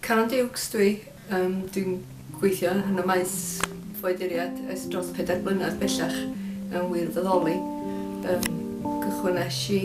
Caron Dukes dwi, yym dwi'n gweithio yn y maes ffoaduriaid ers dros pedair blynedd bellach mewn wirfoddoli. Yym cychwynais i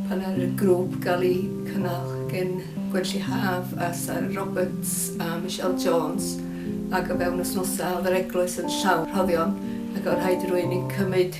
pan ar y grŵp gael ei cynnal gen Gwenlli Haf a Sara Roberts a Michelle Jones ac o fewn wythnosau oedd yr eglwys yn llawn rhoddion ac oedd rhaid i rywun i cymryd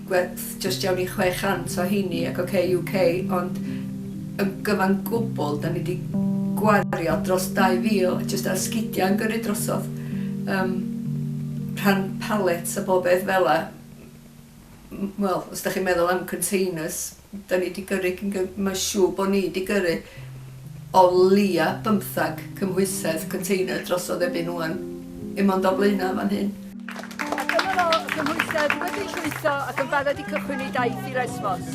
gwerth jyst iawn i 600 o heini ac ok UK ond yn gyfan gwbl da ni di gwario dros 2000 jyst ar sgidia yn gyrru drosodd um, rhan pallets a bob beth fela wel os da chi'n meddwl am containers Da ni 'di gyrru cyn gy-. Mae'n siŵr bod ni 'di gyrru o leia' bymthag cymhwysedd, container, drosodd erbyn ŵan. Dim ond o Blaenau yn fan hyn. A dyma fo, y cymhwysedd wedi llwytho ac yn barod i cychwyn ei daith i Lesbos.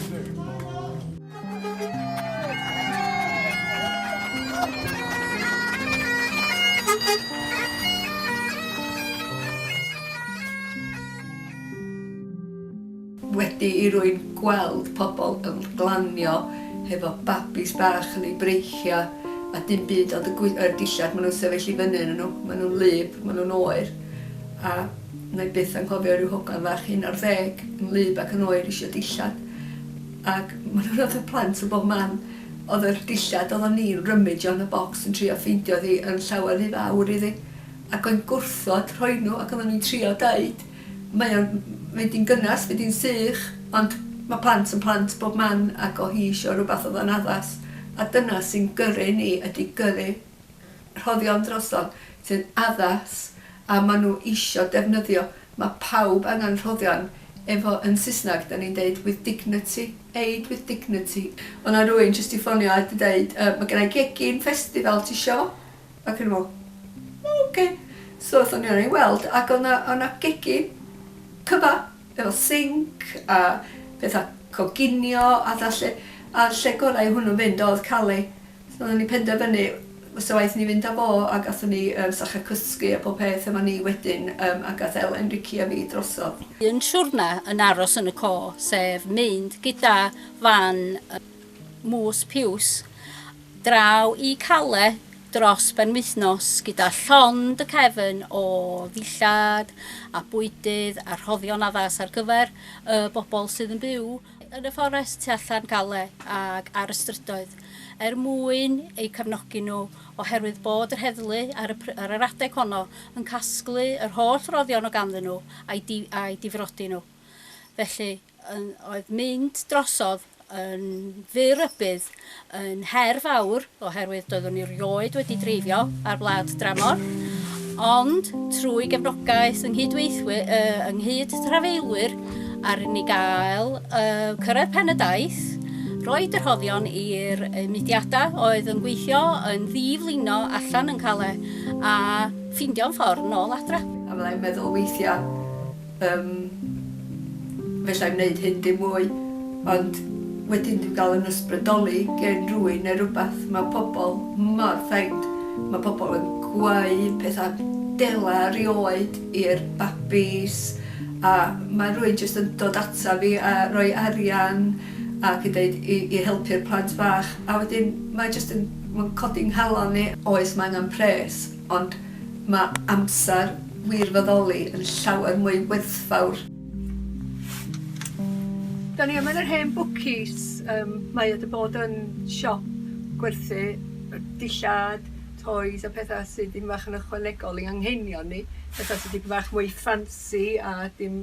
Wedi i rwy'n gweld pobl yn glanio hefo babis bach yn eu breichiau a dim byd ond y yr dillad maen nhw'n sefyll i fyny ynnyn nhw, maen nhw'n wlyb, maen nhw'n oer a wna i byth anghofio rhyw hogan fach un ar ddeg yn wlyb ac yn oer isio dillad ac maen nhw'n rhyfedd plant o bob man oedd yr dillad oedden ni'n rymidjo yn y bocs yn trio ffeindio hi yn llawer rhy fawr iddi ac o'n gwrthod rhoi nhw ac oedden ni'n trio deud Mae o'n mynd i'n gynnes, fydd hi'n sych, ond mae plant yn plant bob man ac o' hi isio rhywbeth oedd o'n addas a dyna sy'n gyrru ni ydy gyrru rhoddion drosodd sy'n addas a maen nhw isio defnyddio. Mae pawb angen rhoddion efo yn Saesneg 'da ni'n deud with dignity, aid with dignity. Oedd 'na rywun jyst 'di ffonio a 'di deud yy mae genna i gegin festival ti isio? Ac o'n i'n meddwl, O ocê. So aethon ni yna i weld ac oedd 'na oedd 'na gegin cyfa efo sinc a petha coginio a petha 'lly a'r lle gorau i hwnnw fynd oedd Callie. So oedden ni'n penderfynu fysa waeth ni fynd â fo a gathon ni yym sacher cysgu a pob peth efo ni wedyn yym a gath Elen, Ricci a fi drosodd. Un siwrna yn aros yn y co sef mynd gyda fan y mwys piws Draw i Calais dros benwythnos gyda llond y cefn o ddillad a bwydydd a rhoddion addas ar gyfer y bobl sydd yn byw yn y fforest tu allan Calais ac ar y strydoedd er mwyn eu cefnogi nhw oherwydd bod yr heddlu ar y ar yr adeg honno yn casglu yr holl roddion o ganddyn nhw a'i difrodi nhw felly yn oedd mynd drosodd yn fy rybudd yn her fawr oherwydd doeddwn i rioed wedi dreifio ar wlad dramor, ond trwy gefnogaeth yng nghydweithwyr, uh, yng nghyd trafeilwyr, ar ni gael uh, cyrraedd pen y daith, roed yr hoddion i'r mudiadau oedd yn gweithio yn ddiflino allan yn Calais a ffindio'n ffordd nôl adra. A fyddai'n meddwl weithiau, Yym, falla i wneud hyn dim mwy, ond wedyn dwi'n cael yn ysbrydoli gen rywun neu rywbeth, mae pobl mor thaid, mae pobl yn gweud pethau dela rioed i'r babis, a mae rywun jyst yn dod ata fi a rhoi arian ac yn deud i i helpu'r plant fach, a wedyn mae jyst yn, mae'n codi 'nghalon i. Oes, mae angen pres, Ond mae amser wirfoddoli yn llawer mwy werthfawr. Da ni yma yn yr hen bwcis, yym mae o 'di bod yn siop gwerthu dillad, toys a petha sy dim bach yn ychwanegol i anghenion ni, petha sy dipyn bach mwy ffansi a dim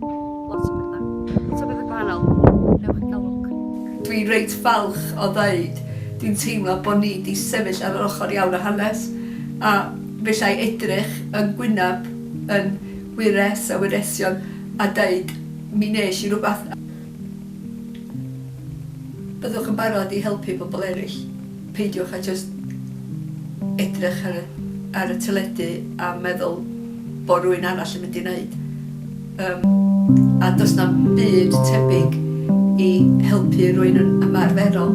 Lot o betha. Lot o betha gwahanol. Wnewch chi gael lwc. Dwi reit falch o ddeud, dwi'n teimlo bo ni di sefyll ar yr ochor iawn o hanes, a fellai edrych yn gwynab yn wyres a wyresion a deud, mi nes i rwbath, a byddwch yn barod i helpu pobl eraill. Peidiwch â jyst edrych ar y ar y teledu a meddwl bod rhywun arall yn mynd i wneud. Yym, a does na'm byd tebyg i helpu rhywun yn ymarferol.